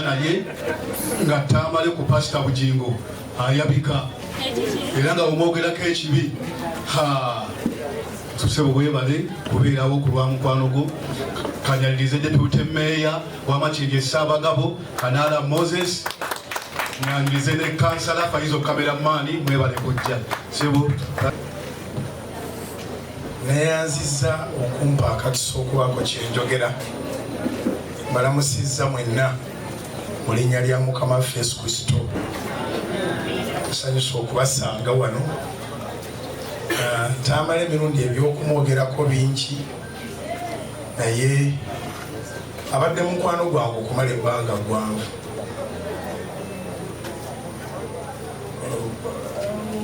naye nga tamale ku pasita bugingo ayabika era nga omwogerako ekibi tusebo webale kubeerawo ku lwa mukwano gwo kanyalirize depute meeya wamakiriri esaabagabo kanaala moses nyanirize ne kansala faizo kamera maani mwebale kujja sebo neyanziza okumpa akakisa okubaako kyenjogera mbalamusizza mwenna mu linnya lya mukama waffe yesu kristo tusanyusa okubasanga wano ah, tamala emirundi ebyokumwogerako bingi naye abadde mukwano gwange okumala ebbanga gwange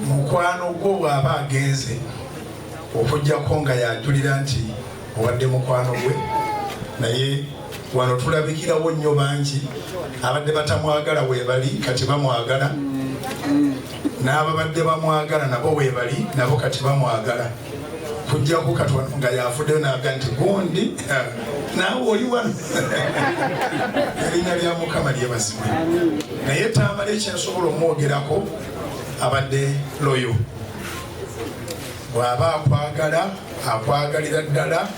mukwano gwo bw'aba agenze okujjako nga yajulira nti obadde mukwano gwe naye wano tulabikirawo nnyo bangi abadde batamwagala webali kati bamwagala n'ababadde bamwagala nabo webali nabo kati bamwagala kujjako kati wano nga yafuddeyo naga nti gundi eh, naawe oli wano erinnya lya mukama lyebazibwe naye tambala ekyensobola omwogerako abadde loyo bw'aba akwagala akwagalira ddala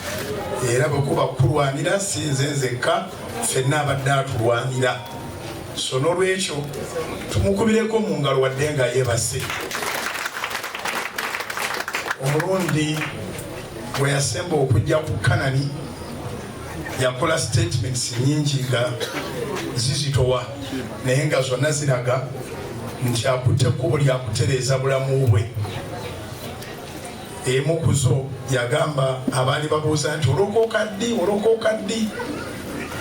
era bwekuba kukulwanira si nze nzekka fenna abadde atulwanira so n'olwekyo tumukubireko mu ngalo wadde nga yeebase omulundi bwe yasemba okujja ku kanani yakola statements nyingi nga zizitowa naye nga zonna ziraga nti akutte kkubo lyakutereeza bulamu bwe Emu ku zo yagamba abaali babuuza nti olokoka ddi olokoka ddi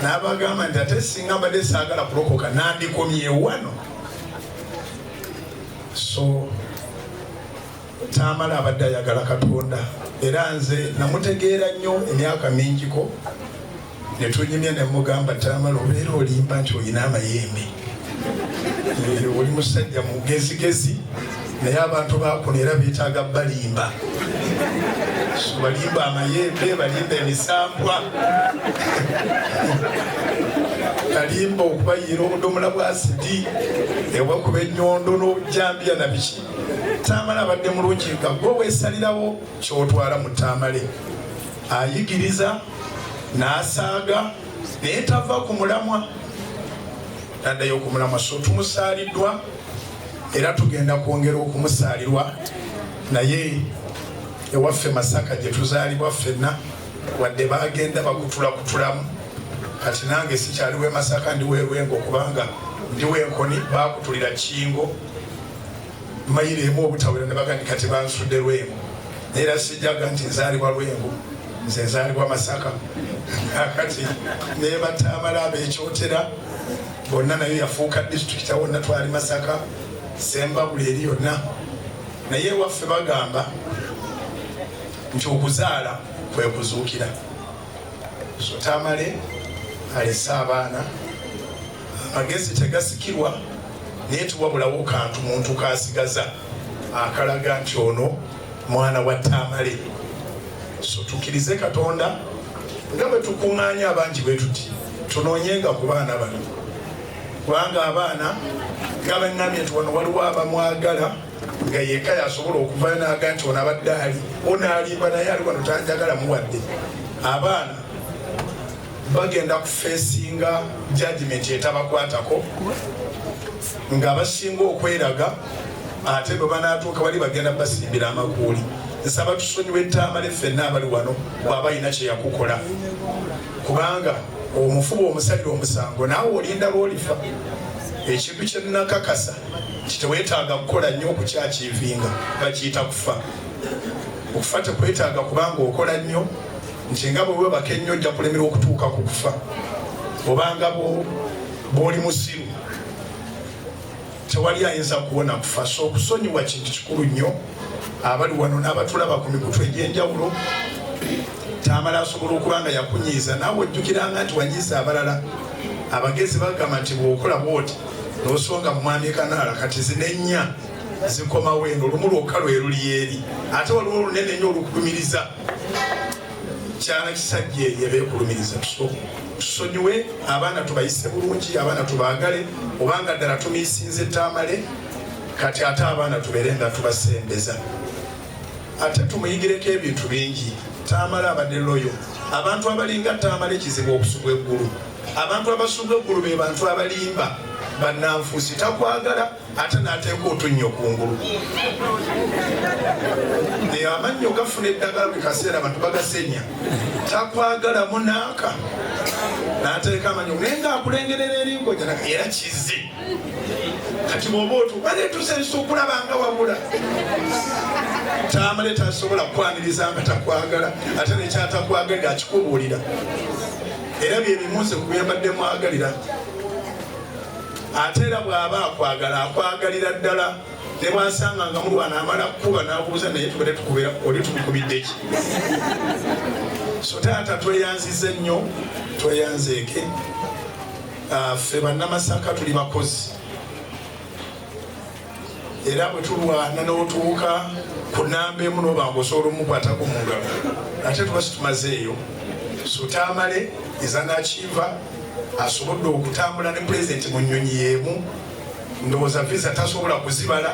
n'abagamba nti ate singa mbadde saagala kulokoka nandikomye wano so taamala abadde ayagala katonda era nze namutegeera nnyo emyaka mingiko ne tunyumya ne mugamba tamala obeera olimba nti olina amayembe oli musajja mugezigezi naye abantu bakuno era betaaga balimba balimba amayembe balimba emisambwa alimba okubayiira obudomola bwa sidi ewakuba enyondo n'obujambiya na biki tamale abadde mulungi nga gwe wesalirawo kyotwala mu tamale ayigiriza n'asaaga naye tava ku mulamwa taddayo ku mulamwa so tumusaaliddwa era tugenda kwongera okumusaalirwa naye ewaffe masaka gye tuzaalibwa ffenna wadde bagenda bakutula kutulamu kati nange sikyaliwo emasaka ndiweerwenga okubanga ndiwo enkoni bakutulira kingo mayiro emu obutawera ne bagandi kati bansudde lwengo naye era sijjaga nti nzaalibwa lwengo nze nzaalibwa masaka akati nebatamala abekyotera bonna nayo yafuuka disitulikiti awonna twali masaka sembabuli eri yonna naye ewaffe bagamba nti okuzaala kwe kuzuukira so tamale alese abaana Amagezi tegasikirwa naye tiwabulawo kantu muntu kasigaza akalaga nti ono mwana wa Tamale. So tukirize Katonda nga bwe tukung'anya abangi bwe tuti tunoonyenga ku baana bano kubanga abaana nga bannamye nti wano waliwo abamwagala nga yeka yasobola okuvayo naga nti ono abadde ali onaalimba naye ali wano tanjagala muwadde abaana bagenda kufeesinga jajimenti etabakwatako nga basinga okweraga ate bwe banaatuuka bali bagenda basimbira amakuuli nsaba tusonyiwa ettambale ffenna abali wano bwaba alina kyeyakukola kubanga omufuba omusalira omusango naawe olinda lwolifa ekintu kyenakakasa kitewetaaga kukola nnyo okukyakiivinga bakiyita kufa okufa tekwetaaga kubanga okola nnyo nti nga bwe webaka ennyo ojja kulemerwa okutuuka ku kufa obanga bw'oli musiru tewali ayinza kuwona kufa so okusonyiwa kintu kikulu nnyo abali wano n'abatulaba ku mikutu egy'enjawulo tamala asobola okuba nga yakunyiiza naawe ojjukiranga nti wanyiiza abalala abagezi bagamba nti bwokola bwoti nosonga mumwami kanaala kati zinennya zikomawo eno olumu lwokka lwe luliyeeri ate waliwo olunene nnyo olukulumiriza kyana kisajja eyo beekulumiriza tusonyiwe abaana tubayise bulungi abaana tubaagale obanga ddala tumiisinze tamale kati ate abaana tubeere nga tubasembeza ate tumuyigireko ebintu bingi tamale abadde loyo abantu abalinga tamale kizibu okusubwa eggulu abantu abasubwa eggulu be bantu abalimba bananfuusi takwagala ate n'ateeka otunnyo kungulu naye amannyo gafuna eddagala buli kaseera abantu bagasenya takwagalamu naaka n'ateeka amannyo naye ng'akulengerera eringoja era kizze kati bwoba otubanetusa ensukulaba nga wabula tamale tasobola kukwaniriza nga takwagala ate nekyatakwagalira akikubuulira era byebimunze ku byembadde mwagalira ate era bw'aba akwagala akwagalira ddala ne bwasanga nga mulwana amala kukuba n'abuuza naye tubadde tukubera oli tumukubidde ki so taata tweyanzize nnyo tweyanzeeke ah, ffe bannamasaka tuli bakozi era bwe tulwana n'otuuka ku namba emu n'obanga osobola omukwatako mu ngalo ate tuba situmazeeyo sutamale ezanakiva asobodde okutambula ne pulezidenti mu nnyonyi y'emu ndowooza visa tasobola kuzibala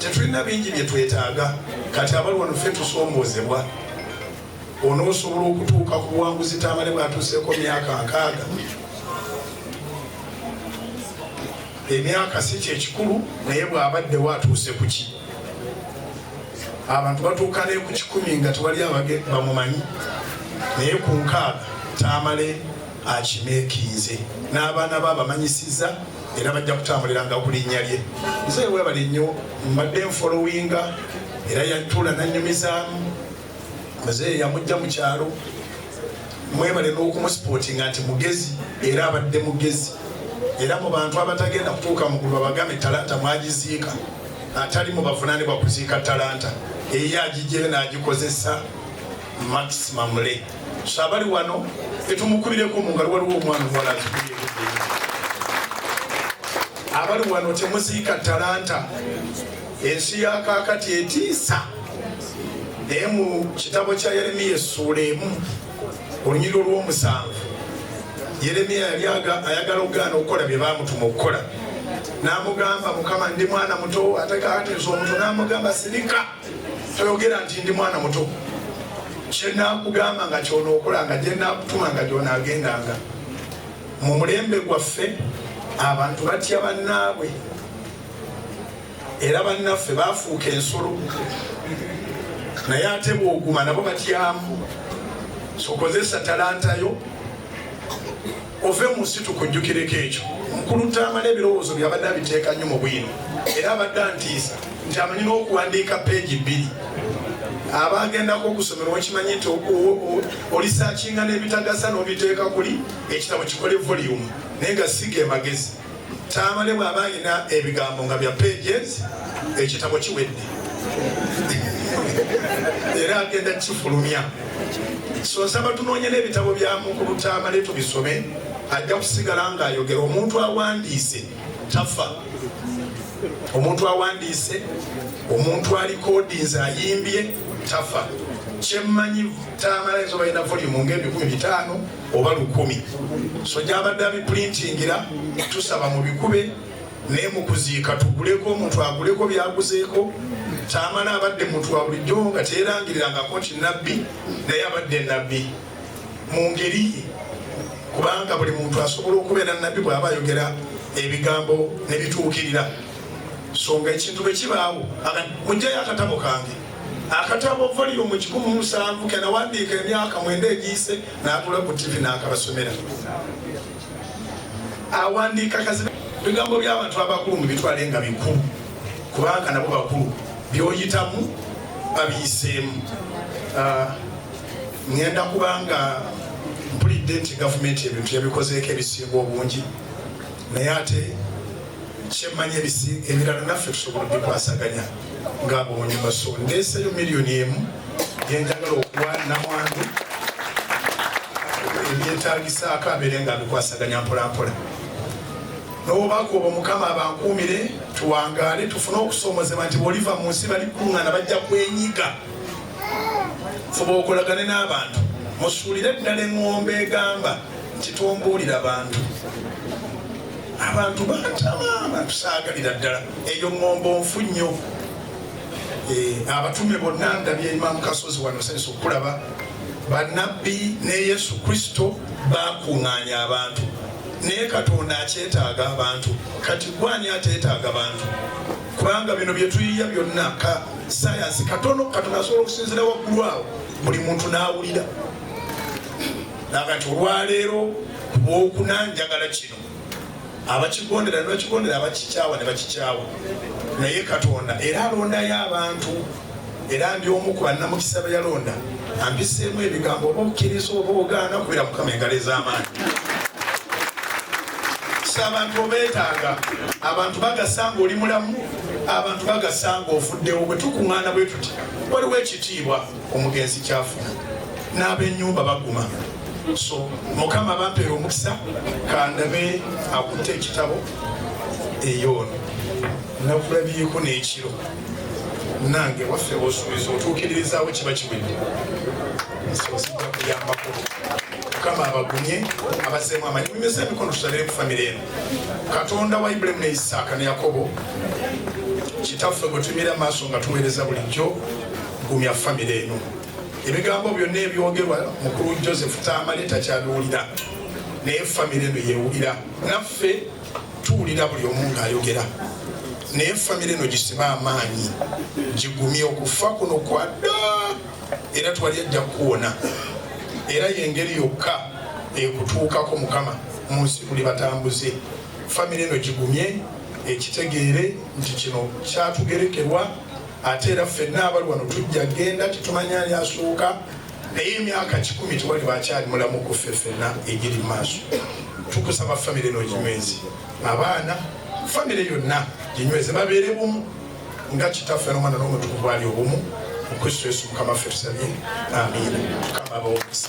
tetulina bingi bye twetaaga kati abali wano ffe tusomboozebwa onoosobola okutuuka ku buwanguzi tamale bwatuuseeko myaka nkaaga emyaka si kyekikulu naye bwabaddewo atuuse kuki abantu batuuka ne ku kikumi nga tewali abage bamumanyi naye ku nkaaga tamale akimeekinze n'abaana be abamanyisiza era bajja kutambuliranga ku linnya lye nze webale nnyo mbadde nfolowinga era yatuula nanyumizaamu muzeeyi yamujja mu kyalo mwebale n'okumusipotinga nti mugezi era abadde mugezi era mu bantu abatagenda kutuuka mugulu babagambe talanta mwagiziika atali mu bavunanibwa kuziika talanta eyo agigyeyo n'agikozesa maximum le so abali wano etumukubireko mu ngalo waliwo omwana omuwala abali wano temuziika talanta Ensi ya kaakati etiisa naye mu kitabo kya Yeremiya essuula emu olunyiriro olw'omusanvu Yeremiya yali ayagala okugaana okukola bye baamutuma okukola n'amugamba mukama ndi mwana muto ate kaakati nze omuto n'amugamba sirika toyogera nti ndi mwana muto kyenakugamba nga kyonookolanga gyenakutuma nga gyonaagendanga mu mulembe gwaffe abantu batya bannaabwe era bannaffe baafuuka ensolo naye ate bwoguma nabo batyamu sokozesa talantayo ove mu nsi tukujjukireko ekyo mukulu taamala ebirowoozo byabadde abiteeka nnyo mu bwino era abadde antiisa nti amanyi n'okuwandiika peegi bbiri abagendako okusomera okimanyi nti olisakinga n'ebitagasa n'obiteeka kuli ekitabo kikole voliyumu naye nga siga emagezi Tamale bw'aba alina ebigambo nga bya pages ekitabo kiwedde era agenda kifulumya so nsaba tunoonye n'ebitabo bya mukulu Tamale tubisome ajja kusigala ng'ayogera omuntu awandiise tafa omuntu awandiise omuntu alikodinze ayimbye tafa kyemmanyi Tamale nsobalina volume ng'ebikumi bitaano oba lukumi so gyabadde abipulintingira tusaba mubikube naye mukuziika tuguleko omuntu aguleko byaguzeeko tamala abadde muntu wa bulijjo nga teyerangirirangako nti nabbi naye abadde nabbi mu ngeri ye kubanga buli muntu asobola okubeera nabbi bwaba ayogera ebigambo nebituukirira so nga ekintu bwe kibaawo mujjayo akatabo kange akatabo voliyumu kikumi musanvu kenawandiika emyaka mwenda egiyise natula ku tivi nakabasomera awandiika kazibe bigambo byabantu abakulu mubitwale nga bikulu kubanga nabo bakulu byoyitamu babiyiseemu ah, ngenda kubanga mpulidde nti gavumenti ebintu yabikozeeko ebisinga obungi naye ate kyemmanyi ebisiige ebirala naffe tusobola obikwasaganya ng'abonyuma so ndeeseyo miliyoni emu gyenjagala okuwa namwandu ebyetagisaako abeere nga abikwasaganya mpolampola nobubaako obwo mukama abankuumire tuwangaale tufune okusomozebwa nti bwoliva mu nsi bali kungana bajja kwenyiga fuba okolagane n'abantu musuulire ddala eŋŋombe egamba nti tombuulira bantu Abantu bantama batusaagalira ddala eyo ŋŋombo nfu nnyo. Eh, abatume bonna ndabye Imam Kasozi wano sensi okulaba bannabbi ne Yesu Kristo bakuŋŋaanya abantu naye Katonda akyetaaga abantu kati gwani ateetaaga abantu kubanga bino bye tuyiya byonna ka sayansi katono Katonda asobola okusinzira waggulu awo buli muntu n'awulira nagati olwaleero Ku lwokuna njagala kino abakigondera ne bakigondera, abakikyawa ne bakikyawa, naye Katonda era alondayo abantu era ndi omu ku bannamukisa be yalonda ampiseemu ebigambo oba okkiriza oba ogaana kubera mukama engalo ez'amaanyi si abantu obeetaaga abantu bagasanga oli mulamu abantu bagasanga ofuddewo bwe tukuŋŋaana bwe tuti waliwo ekitiibwa omugenzi kyafuna n'abenyumba baguma so mukama bampeera omukisa kandabe akutte ekitabo eyoono nakulabyeko n'ekiro nange waffe osuubiza otuukiririzaawo kiba kiwedde sosijja kuyambako mukama abagumye abazeemu amanyi mumyuza emikono tutabire ku famire eno katonda wa ibulamu ne isaaka ne yakobo kitaffe gwe tumira maaso nga tuweereza bulijjo Gumya famire eno. Ebigambo byonna ebyogerwa mukulu Joseph Tamale takyabiwulira naye famire eno yewulira naffe tuwulira buli omu ng'ayogera naye famire eno gisibe amaanyi gigumye okufa kuno kwadda era twali ajja kukuwona era yengeri yokka ekutuukako mukama mu nsi tuli batambuze famire eno gigumye ekitegeere nti kino kyatugerekerwa ate era ffenna abali wano tujja genda tetumanya ali asooka naye emyaka kikumi tewali bakyali mulamu kuffe ffenna egiri mu maaso tukusaba famire eno ginywezi abaana famire yonna ginyweze babeere bumu nga kitaffe nomwana n'omutukuvu ali obumu mu kristo yesu mukama ffe tusabye amiina mukama abawomusa